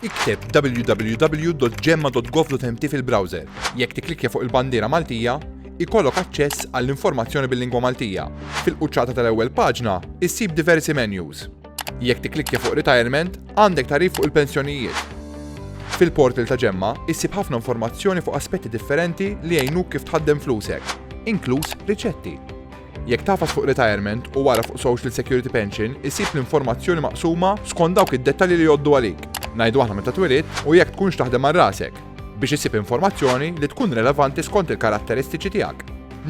Ikteb www.gemma.gov.mt fil-browser. Jekk tiklikja fuq il-bandiera Maltija, ikollok aċċess għall-informazzjoni bil-lingwa Maltija. Fil-quċċata tal-ewwel paġna, issib diversi menus. Jekk tikklikkja fuq Retirement, għandek tagħrif fuq il-pensjonijiet. Fil-portal ta' Ġemma, issib ħafna informazzjoni fuq aspetti differenti li jgħinuk kif tħaddem flusek, inkluż riċetti. Jekk tagħfas fuq Retirement u wara fuq Social Security Pension, issib l-informazzjoni maqsuma skont dawk id-dettalji li jgħoddu għalik. Ngħidu aħna meta twilidt u jekk tkunx taħdem għal rasek. biex issib informazzjoni li tkun relevanti skont il-karatteristiċi tiegħek.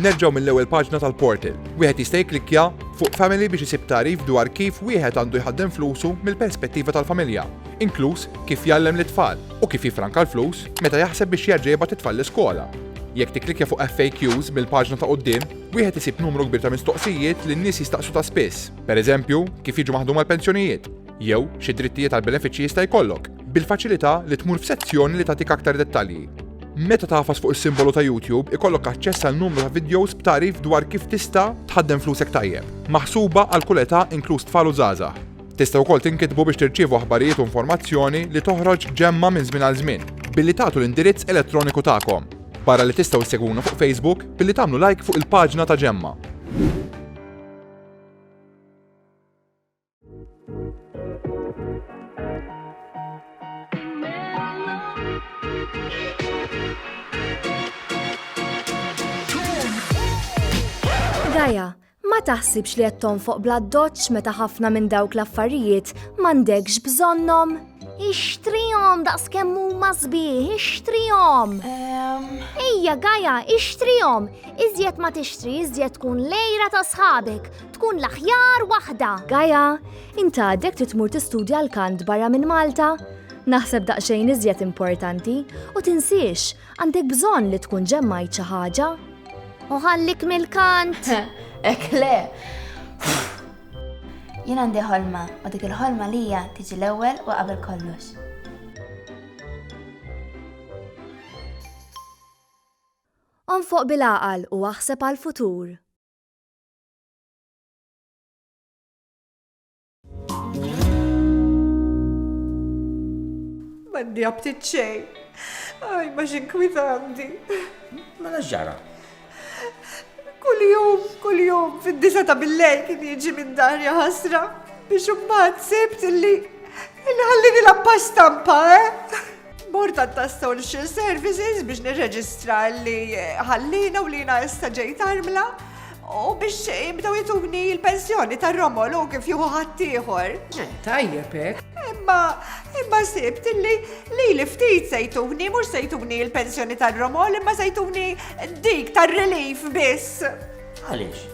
Nerġgħu mill-ewwel paġna tal-portal. Wieħed jista' jikklikkja fuq Family biex isib tagħrif dwar kif wieħed għandu jħaddem flusu mill-perspettiva tal-familja, inkluż kif jgħallem lit-tfal u kif jiffranka l-flus meta jaħseb biex jerġa' jibgħat it-tfal l-iskola. Jekk tikklikkja fuq FAQs mill-paġna ta' quddiem, wieħed isib numru kbir ta' mistoqsijiet li n-nies jistaqsu ta' spiss, pereżempju, kif jiġu maħduma l-pensjonijiet, jew xi drittijiet għal benefiċċji jista' jkollok. Bil-faċilità li tmur f'sezzjoni li tagħtik aktar dettalji. Meta tafas fuq is-simbolu ta' YouTube, ikollok aċċess għal numru ta' videos b'tarif dwar kif tista' tħaddem flusek tajjeb. Maħsuba għal kull età inkluż tfal u żgħażagħ. Tista' wkoll tinkitbu biex tirċievu aħbarijiet u informazzjoni li toħroġ ġemma minn żmien għal żmien billi tagħtu l-indirizz elettroniku tagħkom. Barra li tistgħu ssegwuna fuq Facebook billi tagħmlu like fuq il-paġna ta' ġemma. Gaja, ma taħsibx li qed tonfoq bla doċċ meta ħafna minn dawk l-affarijiet m'għandekx bżonnhom? Ixtrihom daqs kemm huma sbieħ, ixtrihom. Ejja Gaja, ixtrihom. Iżjed ma tixtri, iżjed tkun lejra ta' sħabek. tkun l-aħjar waħda. Gaia, int għadek trid tmur tistudja l-kant barra minn Malta? Naħseb daqsxejn iżjed importanti u tinsiex għandek bżonn li tkun ġemmajt xi ħaġa. U ħallik mill-kant. Ek le. Jien għandi ħolma u dik il-ħolma li hija tiġi l-ewwel u qabel kollox. Onfoq bil-għaqal u aħseb għal-futur. Mandi għabtit xej. Aj, ma xinkwitanti. Ma mela ġara. Kull jum, kull jum, fid-disa ta' billej kien jiġi minn darja ħasra biex umbat sibt illi inħallini la pasta mpa, eh? Bord tat-Social Services biex nirreġistra li ħallina u li jina issa ġejt armla u biex jibdew jituni l-pensjoni tar-romol u kif juhu ħaddieħor. Tajjeb hekk. Imma imma sibt li li li ftit sejtuni mhux sejtuni l-pensjoni tar-romol imma sejtuni dik tar-relief biss. Għaliex?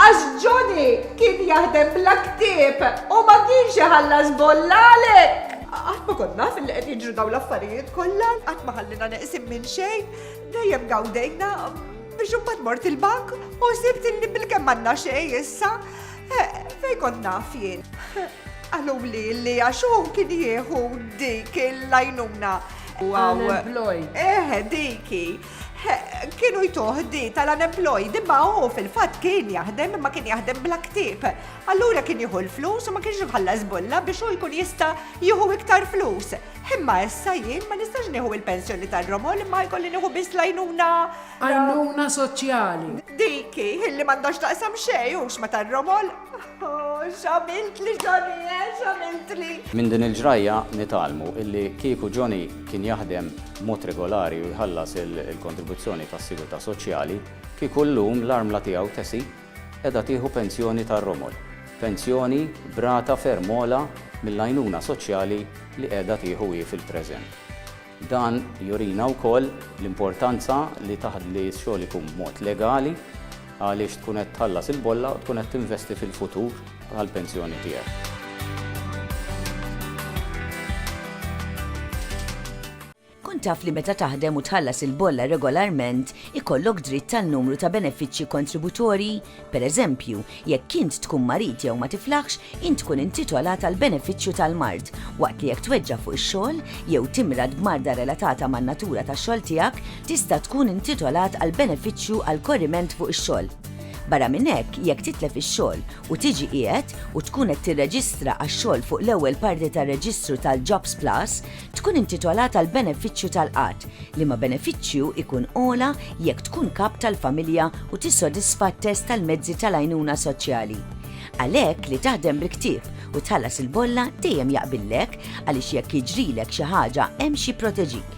Għax Johnny kien jaħdem bla ktieb u ma kienx iħallas bolla għalhekk! Qatt ma kont naf li qed jiġru dawn l-affarijiet kollha, qatt ma ħalliena neqsin minn xejn, dejjem gawdejna, biex imbagħad mort il-bank u sibt li bilkemm m'għandna xejn issa, fejn kont naf jien? Qaluli li għax hu kien jieħu dik l-għajnuna. Unemployed. Eħe, dik hi. Kienu jtuħ di tal-unemployed imma hu fil-fatt kien jaħdem imma kien jaħdem bla ktib. Allura kien jieħu l-flus u ma kienx iħallas bulla biex hu jkun jista' jieħu iktar flus. Imma issa jien ma nistax nieħu il-pensjoni tar-romol imma jkolli nieħu biss lajnuna. Għajnuna soċjali. Diki, illi m'għandhomx taqsam xejn hux ma tar-romol. Oh, x'għamilt li Johnny, eh, x'għamilt li. Minn din il-ġrajja nitalmu illi kieku Johnny kien jaħdem b'mod regolari u jħallas il-kontribuzzjoni tas-sigurtà soċjali, kieku llum l-armla tiegħu Tessie qiegħda tieħu pensjoni tar-romol, pensjoni b'rata ferm ogħla mill-għajnuna soċjali li qiegħda tieħu hi fil-preżent. Dan jurina wkoll l-importanza li taħ-li x-xogħol ikun b'mod legali, Għaliex tkun qed tħallas il-bolla u tkun qed tinvesti fil-futur tal-pensjoni tiegħek. Kun taf li meta taħdem u tħallas il-bolla regolarment ikollok dritt għal numru ta' benefiċċji kontributorji? Pereżempju, jekk int tkun marid jew ma tiflaħx, int tkun intitolat għal benefiċċju tal-mard, waqt li jekk tweġġa' fuq ix-xogħol jew timrad b'marda relatata man-natura tax-xogħol tiegħek, tista' tkun intitolat għal benefiċċju għal korriment fuq ix-xogħol. Barra minn hekk, jekk titlef ix-xogħol u tiġi qiegħed u tkun qed tirreġistra għax-xogħol fuq l-ewwel parti tar-reġistru tal-Jobs Plus, tkun intitolat għal benefiċċju tal-qgħad, liema benefiċċju jkun ogħla jekk tkun kap tal-familja u tissodisfa t-test tal-mezzi tal-għajnuna soċjali. Għalhekk li taħdem bil-ktieb u tħallas il-bolla dejjem jaqbillek għaliex jekk jiġrilek xi ħaġa hemm xi jipproteġik.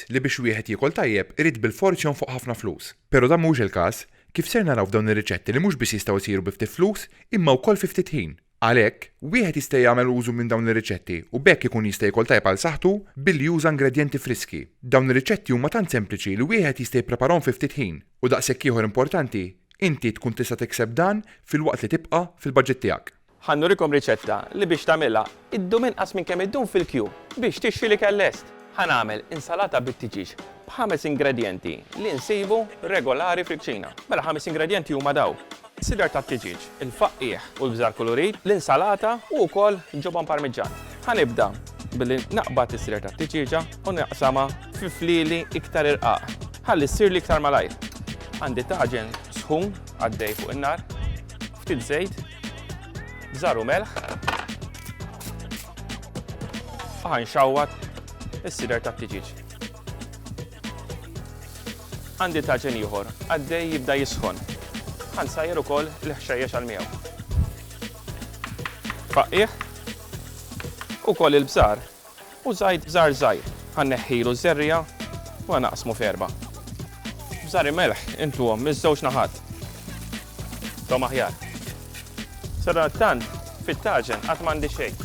fatt li biex wieħed jiekol tajjeb irid bilfors jonfoq ħafna flus. Pero' dan mhuwiex il-każ, kif ser naraw f'dawn ir-riċetti li mhux biss jistgħu jsiru bi ftit flus imma wkoll fi ftit ħin. Għalhekk, wieħed jista' jagħmel użu minn dawn ir-riċetti u b'hekk ikun jista' jiekol tajjeb għal saħħtu billi juża ingredjenti friski. Dawn ir-riċetti huma tant sempliċi li wieħed jista' jippreparahom fi ftit ħin u daqshekk ieħor importanti, inti tkun tista' tikseb dan filwaqt li tibqa' fil-baġit tiegħek. Ħa nurikom riċetta li biex tagħmilha ddum inqas minn kemm iddum fil-kju biex tixtri l-ikel lest. Ħa nagħmel insalata bit-tiġieġ b'ħames ingredjenti li nsibu regolari fil-kċina. Mela ħames ingredjenti huma daw. Sidar tat-tiġieġ, il-faqqiegħ u l-bżar kulurit, l-insalata u wkoll ġobon parmiġġan. Ħa nibda billi naqbad is-sidar tat-tiġieġa u naqsamha fi flieli iktar irqaq ħalli ssirli iktar malajr. Għandi taġen sħun għaddej fuq in-nar, ftit żejt, Bżar u melħ. Faħan xawwat is-sider tat-tiġiġ. Għandi taġen ieħor, għaddej jibda jisħon. Għan sajjer ukoll l-ħxejjex għal miegħu. Faqqiħ u koll il-bżar U żgħid bżar żgħir. Ħa nneħħilu ż-żerriegħa u ħa naqsmu f'erba'. Bżari melħ intuhom miż-żewġ naħat. Intuhom aħjar. Sadanattant fit-taġen għad m'għandi xejn.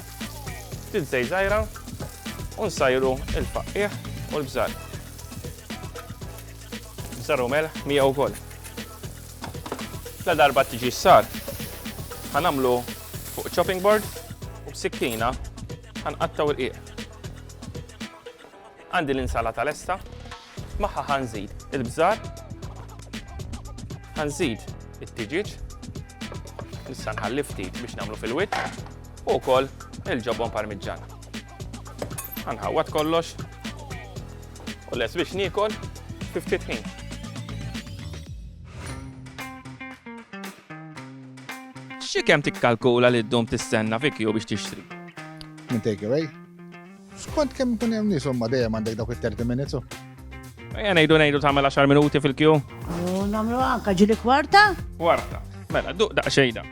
Ftit żejt żgħira u nsajru l-faqqiegħ u l-bżar. Bżar u melħ miegħu wkoll. Ladarba tiġi ssar, ħa nagħmlu fuq chopping board u b'sikkina Ħanqattaw irqiq. Għandi l-insalata lesta, magħha ħanżid il-bżar, ħanżid it-tiġiġ, issa nħalli ftit biex nagħmlu fil-wit, u wkoll il-ġobon parmiġġan. Ħanħawwad kollox u les biex niekol fi ftit ħin. Xi kemm tikkalkula li ddum tistenna fi kju biex tixtri? Minn takeaway? Skont kemm ikun hemm nies ma dejjem għandek dawk it-30 minutes. Ejja ngħidu ngħidu tagħmel 10 minuti fil-kju. U nagħmlu anka ġili kwarta? Kwarta. Mela, duq daqsxejda.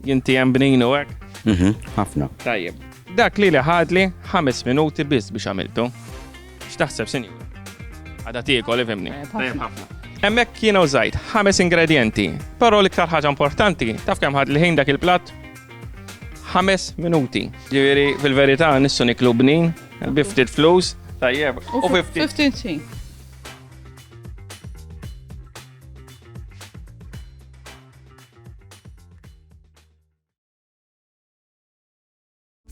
Jinti hemm bninu hekk? Mhm, ħafna. Tajjeb. Dak li li ħadli 5 minuti biss biex għamiltu. X'taħseb, sinjur? Għada tiekol, ifimni. Hemmhekk jiena użajt ħames ingredienti, però l-iktar ħaġa importanti, taf kemm ħad l-ħin dak il-platt? Ħames minuti. Ġifieri fil-verità nissu niklu bnin, biftit flus, tajjeb, u 50.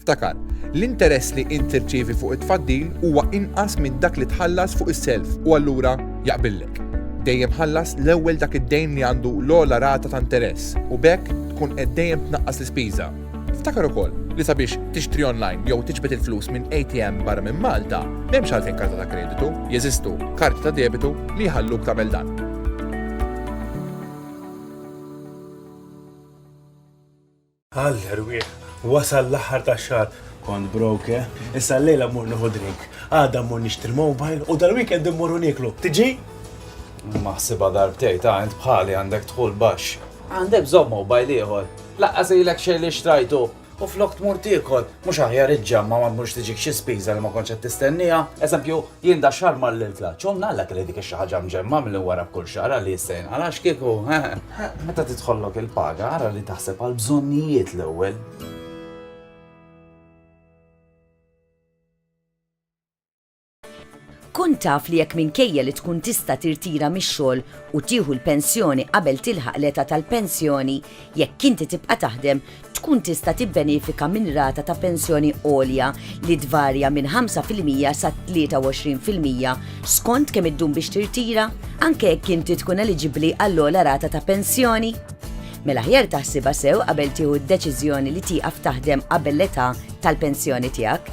Ftakar, l-interess li int tirċievi fuq it-tfaddil huwa inqas minn dak li tħallas fuq is-self u allura jaqbillek. Dejjem ħallas l-ewwel dak id-dejn li għandu l-ogħla rata ta' interess u b'hekk tkun qed dejjem tnaqqas l-ispiża. Ftakar ukoll li sabiex tixtri online jew tiġbed il-flus minn ATM barra minn Malta, m'hemmx għalfejn karta ta' kreditu, jeżistu karti ta' debitu li jħalluk tagħmel dan. Għall erwieħ! Wasal l-aħħar tax-xahar. Kont broke, issa llejla mmur nieħu drink. Għada mmur nixtri mobile u dal-weekend immorru nieklu. Tiġi? Maħsibha darbtejn, ta' int bħali għandek dħul baxx. Għandek bżonn mobile ieħor? Lanqas ilek xejn li xtrajtu u flok tmur tiekol, Mhux aħjar iġġamma' ma tmurx tiġik xi spiża li ma kontx qed tistennieha? Eżempju, jien dax-xahar mar lil Tlaċ, u ngħallek li dik ix-xi ħaġa mġemma' milli nwara b'kull xahar għalli jista' jinqal' għax kieku, hehe. Meta tidħollok il-paga ara li taħseb għall-bżonnijiet l-ewwel. Kun taf li jekk minkejja li tkun tista' tirtira mix-xogħol u tieħu l-pensjoni qabel tilħaq l-età tal-pensjoni, jekk inti tibqa' taħdem, tkun tista' tibbenefika minn rata ta' pensjoni għolja li tvarja minn 5 fil-mija sa 23 fil-mija skont kemm iddum biex tirtira, anke jekk inti tkun eliġibbli għall-ogħla rata ta' pensjoni? Mela aħjar taħsibha sew qabel tieħu d-deċiżjoni li tieqaf taħdem qabel l-età tal-pensjoni tiegħek.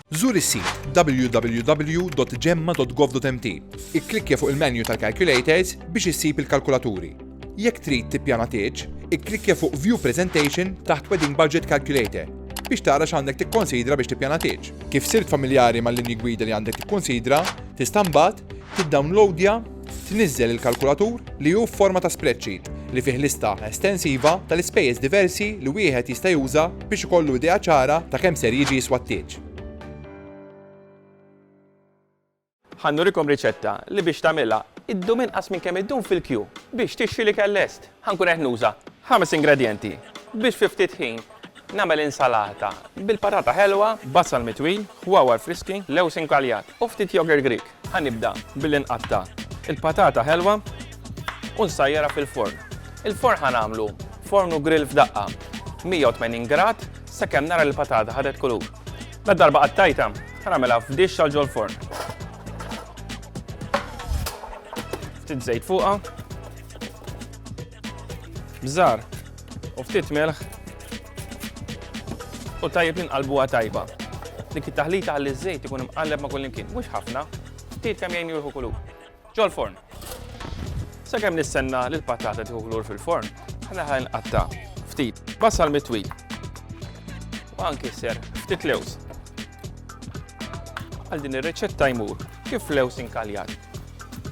Żur is-sit www.jemma.gov.mt. Ikklikkja fuq il-menju tal-Calculators biex issib il-kalkulaturi. Jekk trid tippjana tieġ, ikklikkja fuq View Presentation taħt Wedding Budget Calculator biex tara x'għandek tikkonsidra biex tippjana tieġ. Kif sirt familjari mal-linji gwida li għandek tikkonsidra, tista' mbagħad tiddawnlowdja, Tniżżel il-kalkulatur, li hu f'forma ta' spreadsheet, li fih lista estensiva tal-ispejjeż diversi li wieħed jista' juża biex ikollu idea ċara ta' kemm ser jiġi jiswa t-tieġ. Ħa nurikom riċetta li biex tagħmilha ddum inqas minn kemm iddum fil-kju biex tixtri l-ikel lest. Ħa nkun qed nuża ħames ingredjenti biex fi ftit ħin nagħmel insalata bil-patata ħelwa, basal mitwil, ħwawar friski, lewż inkaljat u ftit yogurt Grieg. Ħa nibda billi nqatta' il-patata ħelwa u nsajjarha fil-forn. Il-forn ħa nagħmlu forn u grill f'daqqa, 180 grad sakemm nara li l-patata ħadet kulur. Ladarba qattajtha, ħa nagħmilha f'dixx għal ġol-forn. Ftit żejt fuqha. Bżar u ftit melħ u tajjeb inqalbuha tajba. Dik it-taħlita għalli ż-żejt ikun imqalleb ma' kullimkien, mhux ħafna, ftit kemm jgħin jurħu kulur. Ġol forn. Sakemm nistenna li l-patata tieħu kulur fil-forn, ħana ħan qatta ftit basal mitwi. U anki ser ftit lews. Għal din ir-reċetta jmur kif lews inkaljat.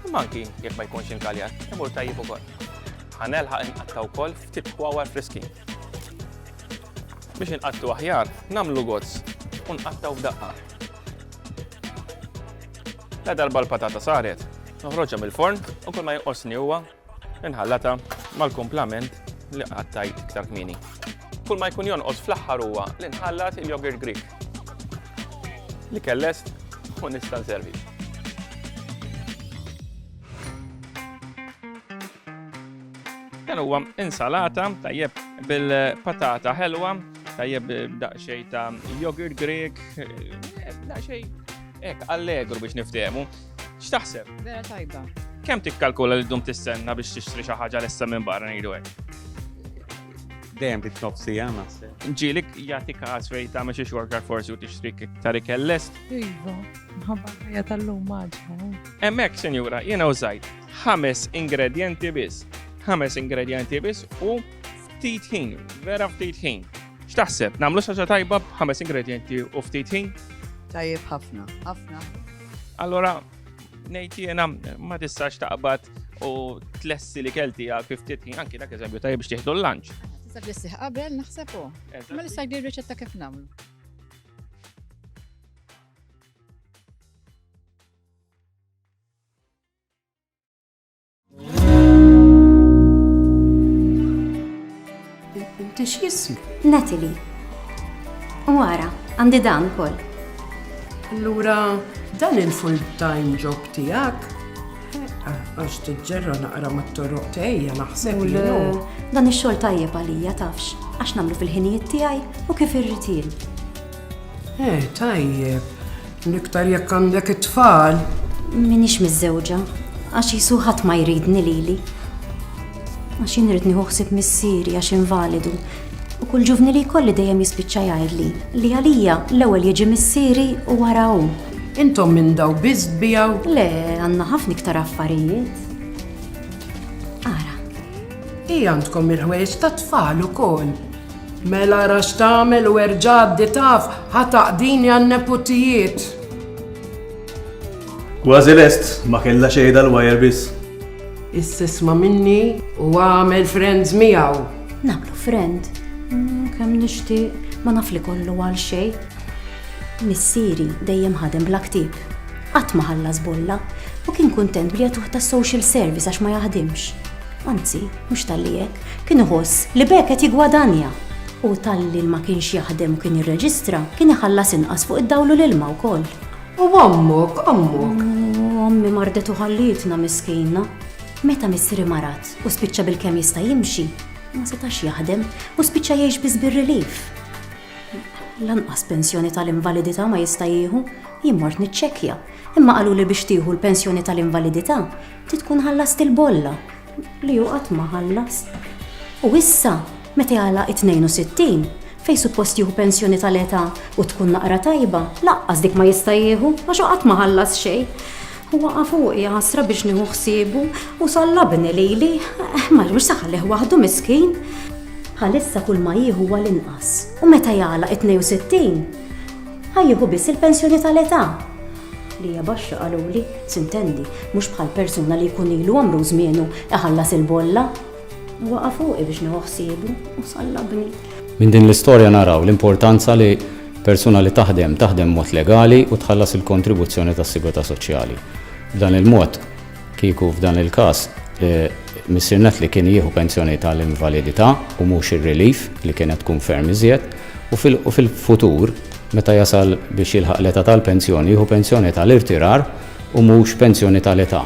Imma anki jekk ma jkunx inkaljat, imur tajjeb ukoll. Ħa nelħaq inqatta' wkoll ftit kwawar friskin. Biex inqattu aħjar, nagħmlu gozz u nqattaw f'daqqa. La darba l-patata saret, noħroġha mill-forn u kull ma jinqosni huwa inħallata mal-kumplament li qattajt iktar kmini. Kull ma jkun jonqos fl-aħħar huwa li nħallat il-yogurt Greek. Li kellest u nista' nservi. Dan huwa insalata tajjeb bil-patata ħelwa, tajjeb daqsxejn ta' yogurt Grek, eh, daqsxejn hekk allegru biex niftehmu. X'taħseb? Vera tajba. Kemm tikkalkula li dum tistenna biex tixtri xi ħaġa lessa minn barra ngħidu hekk? Dejjem bit nofsi għan naħseb. Ġilik jagħti każ fejn tagħmel xi xorkar forsi u tixtri iktar ikellest. Iva, ħabba ħajja tal-lum maġħa. Hemmhekk, sinjura, jiena użajt ħames ingredjenti biss. Ħames ingredjenti biss u ftit ħin, vera ftit ħin. X'taħseb, nagħmlu xaġa tajba b'ħames ingredjenti u ftit ħin? Tajjeb ħafna, ħafna. Allora, ngħid jiena ma tistax taqbad u tlessi li kelti għal ftit ħin anki dak eżempju tajjeb biex tieħdu l-lunch. Tista' tlessi qabel naħseb u. Ma nista' jdir riċetta kif nagħmlu. Tix jism? Natalie. U għara, għandi dan kol. Allura, dan il-full-time job tijak, għax t-ġerra naqra ma t-torroq tejja naħseb li Dan il-xol tajjeb għalija tafx, għax namlu fil-ħinijiet tijaj u kif irritil. Eh, tajjeb. L-iktar jekk għandek it-tfal. Minix miżżewġa, għax jisu ħadd ma jridni lili. Għax jien rrid nieħu ħsieb missieri għax invalidu u kull ġuvni li jkolli dejjem jispiċċa jgħidli li għalija l-ewwel jiġi missieri u wara hu. Intom minn daw biss bijaw? Le, għandna ħafna iktar affarijiet. Ara. Hi għandkom il-ħwejjeġ tat-tfal ukoll. Mela ara x'tagħmel u erġ'għaddi taf ħa taqdini għan-neputijiet. Kważi lest, ma kellha xejn dal-wire biss. Issa isma' minni u agħmel friends miegħu. Nagħmlu friend? Kemm nixtieq, ma naf li kollu għal xejn. Missieri dejjem ħadem bla ktieb. Qatt ma ħallas bolla u kien kuntent bli jagħtuh tas-social service għax ma jaħdimx. Anzi, mhux talli hekk, kien iħoss li b'hekk qed jiggwadanja. U talli ma kienx jaħdem u kien jirreġistra, kien iħallas inqas fuq id-dawl u l-ilma wkoll. U ommok, ommok? Ommi mardet u ħallietna miskina. Meta missieri marat u spiċċa bil-kemm jista' jimxi, ma setax jaħdem u spiċċa jgħix biss bir-relief. Lanqas pensjoni tal-invalidità ma jista' jieħu, jien mort niċċekkja, imma qalu li biex tieħu l-pensjoni tal-invalidità Ti tkun ħallast il-bolla li hu qatt ma ħallas. U issa, meta jagħlaq it-62, fej suppost jieħu pensjoni tal-età u tkun naqra tajba, laqqas dik ma jista' jieħu għax qatt ma ħallas xejn. Huwa fuq ħasra biex nieħu ħsiebu u sallabni lili, eh, ma mhux saħalih waħdu miskin. Għalissa kull ma jieħu għal inqas u meta jagħlaq 62 ħajjieħu biss il-pensjoni tal-età. li hija baxxa qaluli, s'intendi, mhux bħal persuna li jkun ilu għamru u żmienu iħallas il-bolla. Waqa' fuqi biex nieħu ħsiebu u sallabni. Minn din l-istorja naraw l-importanza li persuna li taħdem, taħdem b'mod legali u tħallas il-kontribuzzjoni tas-sigurtà soċjali. B'dan il-mod, Kieku f'dan il-każ Missier Natli kien jieħu pensjoni tal-invalidità u mhux ir-relief li kienet tkun ferm iżjed u fil-futur meta jasal biex jilħaq l-età tal-pensjoni jieħu pensjoni tal-irtirar u mhux pensjoni tal-età.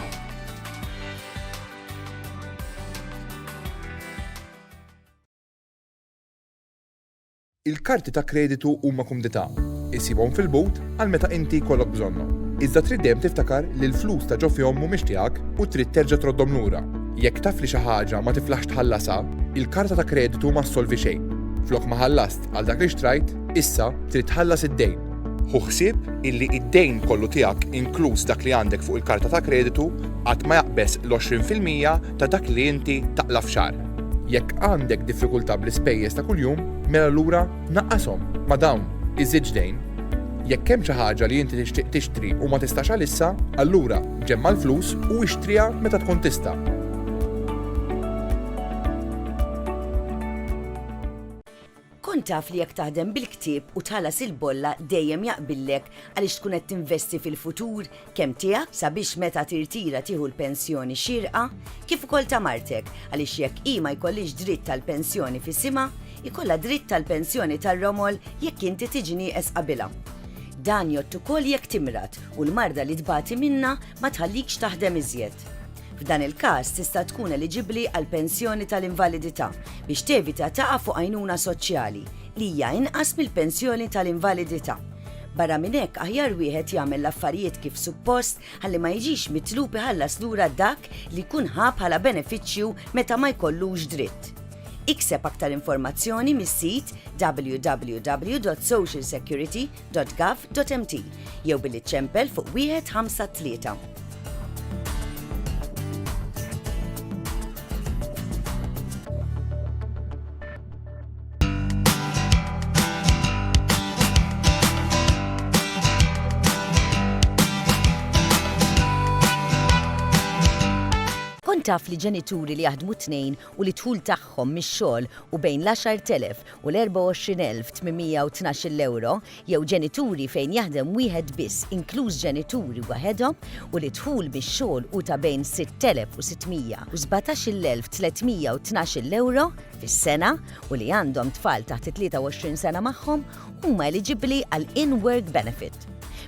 Il-karti ta' kreditu huma kumdità. Issibhom fil-but għal meta inti jkollok bżonnhom. Iżda trid dejjem tiftakar li l-flus ta' ġo fihom mhumiex tiegħek u trid terġa' troddhom lura. Jekk taf li xi ħaġa ma tiflaħx tħallasha, il-karta ta' kreditu ma ssolvi xejn. Flok ma ħallast għal dak li xtrajt, issa trid tħallas id-dejn. Ħu ħsieb illi id-dejn kollu tiegħek inkluż dak li għandek fuq il-karta ta' kreditu qatt ma jaqbeż l-għoxrin fil-mija ta' dak li inti taqla' f'xahar. Jekk għandek diffikultà bl-ispejjeż ta' kuljum, mela allura naqqashom ma' dawn, iżidx dejn. Jekk hemm xi ħaġa li inti tixtieq tixtri u ma tistax għalissa, allura ġemma' l-flus u ixtriha meta tkun tista'. Kont taf li jekk taħdem bil-ktieb u tħallas il-bolla dejjem jaqbillek għaliex tkun qed tinvesti fil-futur kemm tiegħek sabiex meta tirtira tieħu l-pensjoni xierqa kif ukoll ta' martek għaliex jekk hi ma jkollhiex dritt tal-pensjoni f'isimha, jkollha dritt tal-pensjoni tar-romol jekk inti tiġi nieqes qabilha. Dan jgħodd ukoll jekk timrad u l-marda li tbati minnha ma tħallikx taħdem iżjed. F'dan il-każ tista' tkun eliġibbli għal pensjoni tal-invalidità biex tevita taqa' fuq għajnuna soċjali, li hija inqas mill-pensjoni tal-invalidità. Barra minn hekk aħjar wieħed jagħmel l-affarijiet kif suppost ħalli ma jiġix mitlub iħallas lura dak li jkun ħa bħala benefiċċju meta ma jkollux dritt. Ikseb aktar informazzjoni mis-sit www.socialsecurity. www.ecc.gov.mt jew billi ċċempel fuq 153. Kont taf li ġenituri li jaħdmu t-tnejn u li d-dħul tagħhom mix-xogħol hu bejn l-10,000 u l-24,812 ewro jew ġenituri fejn jaħdem wieħed biss inkluż ġenituri waħedhom u li d-dħul mix-xogħol hu ta' bejn 6,600 u 17,312 ewro fis-sena u li għandhom tfal taħt it-23 sena magħhom huma eliġibbli għal in-work benefit.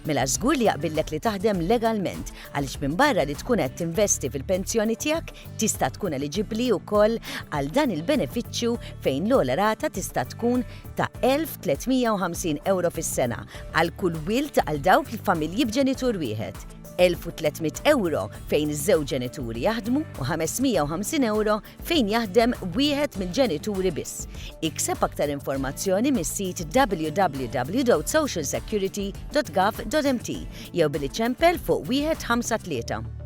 Mela żgur li jaqbillek li taħdem legalment għaliex minbarra li tkun qed tinvesti fil-pensjoni tiegħek, tista' tkun eliġibbli wkoll għal dan il-benefiċċju fejn l-ogħla rata tista' tkun ta' 1,350 ewro fis-sena għal kull wild għal dawk il-familji b'ġenitur wieħed, 1,300 ewro fejn iż-żewġ ġenituri jaħdmu u 550 ewro fejn jaħdem wieħed mill-ġenituri biss. Ikseb aktar informazzjoni mis-sit www.socialsecurity.gov.mt jew billi ċempel fuq 153.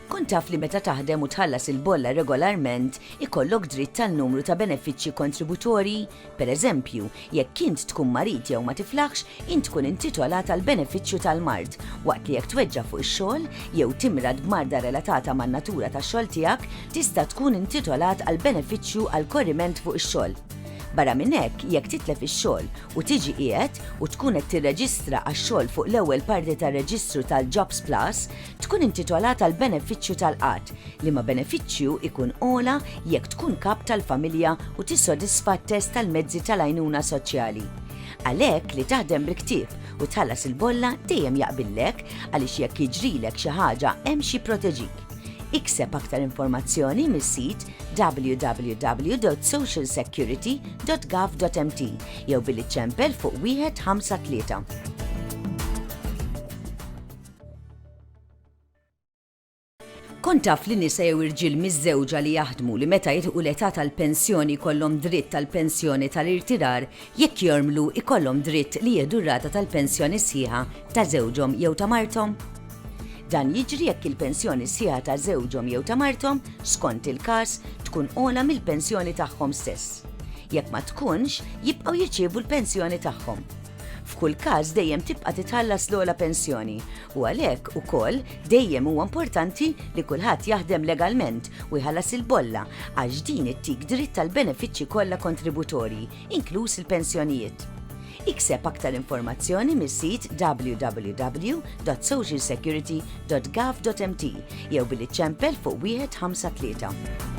Kun taf li meta taħdem u tħallas il-bolla regolarment ikollok dritt tal numru ta' benefiċċji kontributorji Pereżempju, jekk int tkun marid jew ma tiflaħx, int tkun intitolat għal benefiċċju tal-mard, waqt li jekk tweġġa' fuq ix-xogħol, jew timrad b'marda relatata man-natura tax-xogħol tiegħek, tista' tkun intitolat għal benefiċċju għal korriment fuq ix-xogħol. Barra minn hekk, jekk titlef ix-xogħol u tiġi qiegħed u tkun qed tirreġistra għax-xogħol fuq l-ewwel parti tar-reġistru tal-JobsPlus, tkun intitolat għall-benefiċċju tal-qgħad, liema benefiċċju jkun ogħla jekk tkun kap tal-familja u tissodisfa t-test tal-mezzi tal-għajnuna soċjali. Għalhekk li taħdem bil-ktief u tħallas il-bolla dejjem jaqbillek għaliex jekk jiġrilek xi ħaġa hemm xi jipproteġik. Ikseb aktar informazzjoni mis-sit www.socialsecurity.gov.mt jew billi ċempel fuq 153. Kont taf li nisa jew irġiel miżżewġa li jaħdmu li meta jilħqu l-età tal-pensjoni jkollhom dritt tal-pensjoni tal-irtirar jekk jormlu jkollhom dritt li jieħdu r-rata tal-pensjoni sħiħa ta' żewġhom jew ta' marthom? Dan jiġri jekk il-pensjoni sħiħa ta' żewġhom jew ta' marthom, skont il-każ, tkun ogħla mill-pensjoni tagħhom stess. Jekk ma tkunx, jibqgħu jirċievu l-pensjoni tagħhom. F'kull każ dejjem tibqa' titħallas l-ogħla pensjoni u għalhekk ukoll dejjem huwa importanti li kulħadd jaħdem legalment u jħallas il-bolla għax din ittik dritt tal-benefiċċji kollha kontributorji, inkluż il-pensjonijiet. Ikseb aktar informazzjoni mis-sit www.socialsecurity.gov.mt jew billi ċempel fuq 153.